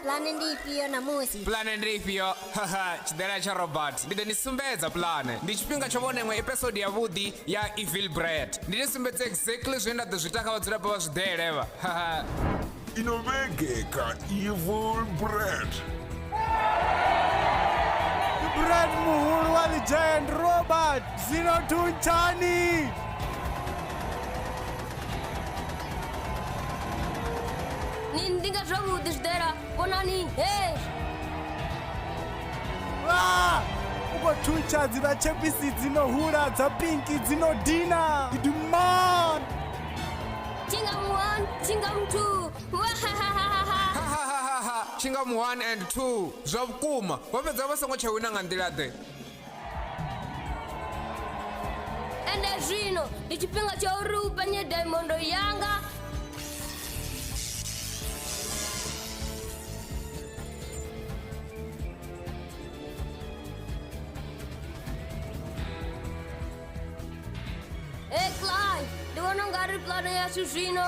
pulane ndi ifhio namusi pulane ndi ifhio haha tshidela tsha robert ndi ḓo ni sumbedza pulane ndi tshifhinga tsho vhona iṅwe episode yavhuḓi ya evil bread ndi ni sumbedza exactly zwine nda ḓo zwi ita kha vhadzulapo vha zwiḓele vha haha ino vhege kha evil bread Brad Muhulu wa The Giant Robert Zero Two Chani Ni ndi nga zwavhuḓi zwi ḓela konani hei Ah! u khou thuntsha dzi na tshepisi dzi no hula dza pinki dzi no dina gidimon chinga one chinga two wahahahaha tshinga 1 and 2 zwa vhukuma vho fhedza vha songo tsha wina nga nḓila ḓe ende zwino ndi tshifhinga tsha uri u penye daimondo yanga e cly ndi vhona u nga ri pulane yashu zwino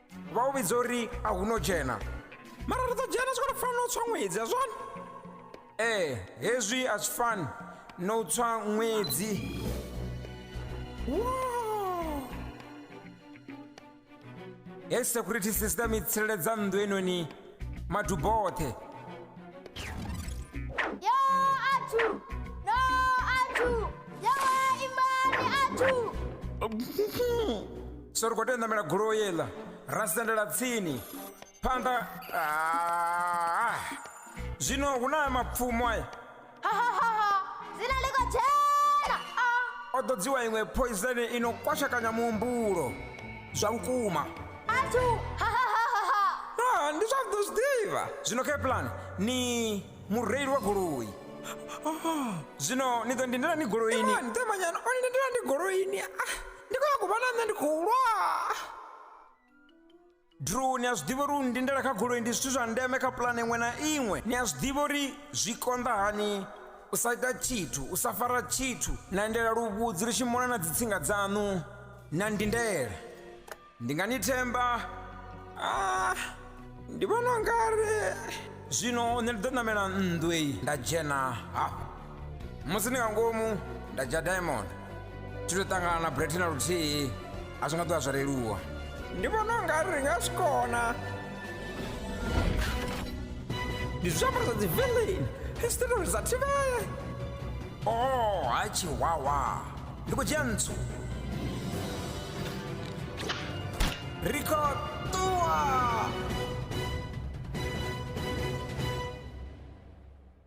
vha u vhidza uri a hu no dzhena mara ri ḓo dzhena zwi khou fanela u tswa ṅwedzi a zwone ee eh, hezwi a zwi fani na u tswa ṅwedzi hei security system i tsireledza nnḓu enoni maduboṱhe yo athu no athu yawe imbani athu so ri khou tea u ṋamela goloi yeḽa ra sendela tsini phanḓa Ah. zwino hu na mapfumo aya dzina liko tshena o ḓo dziwa iṅwe poizeni i no kwashekanya muhumbulo zwa vhukuma athu Ah, ndi zwa ḓo zwi ḓivha zwino kaplan ni mureili wa goloi zwino ni ḓo ndindela ni goloini temanyana o ndindela ni goloini ndi khou ya ku vha na nṋe ndi khou lwa Drew, ni a zwi ḓivha uri u ndindela kha goloi ndi zwithu zwa ndeme kha pulane iṅwe na iṅwe. Ni a zwi ḓivha uri zwi konḓa hani u sa ita tshithu, u sa fara tshithu, na endela luvhudzi ri tshi mona na dzitsinga dzaṋu, na ndindela. Ndi nga ni themba? Ah, ndi vhona ungari zwino nṋe ndi ḓo ṋamela nnḓu eyi nda dzhena hafha. musi ni nga ngomu nda dzhia diamond thi to ṱangana na breti na luthihi a zwi nga ḓo vha zwo leluwa ndi vhona u nga ri nga zwi kona ndi zwiambaro zwa dzivillain history dza thivhele o oh, ha chiwawa ndi khou dzhia ntsu ri khou ṱuwa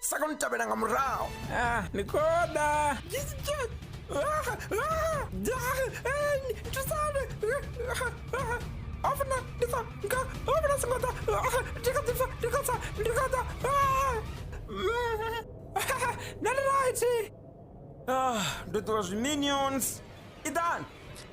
sa koni u tevhela nga murahu ah ni koda thusane ofuna ndi sa nga ofuna songo ḓa ndi kha ḓi pfa ndi kha sa ndi kha ḓa nani right ah ndo ṱuwa zwi minions idan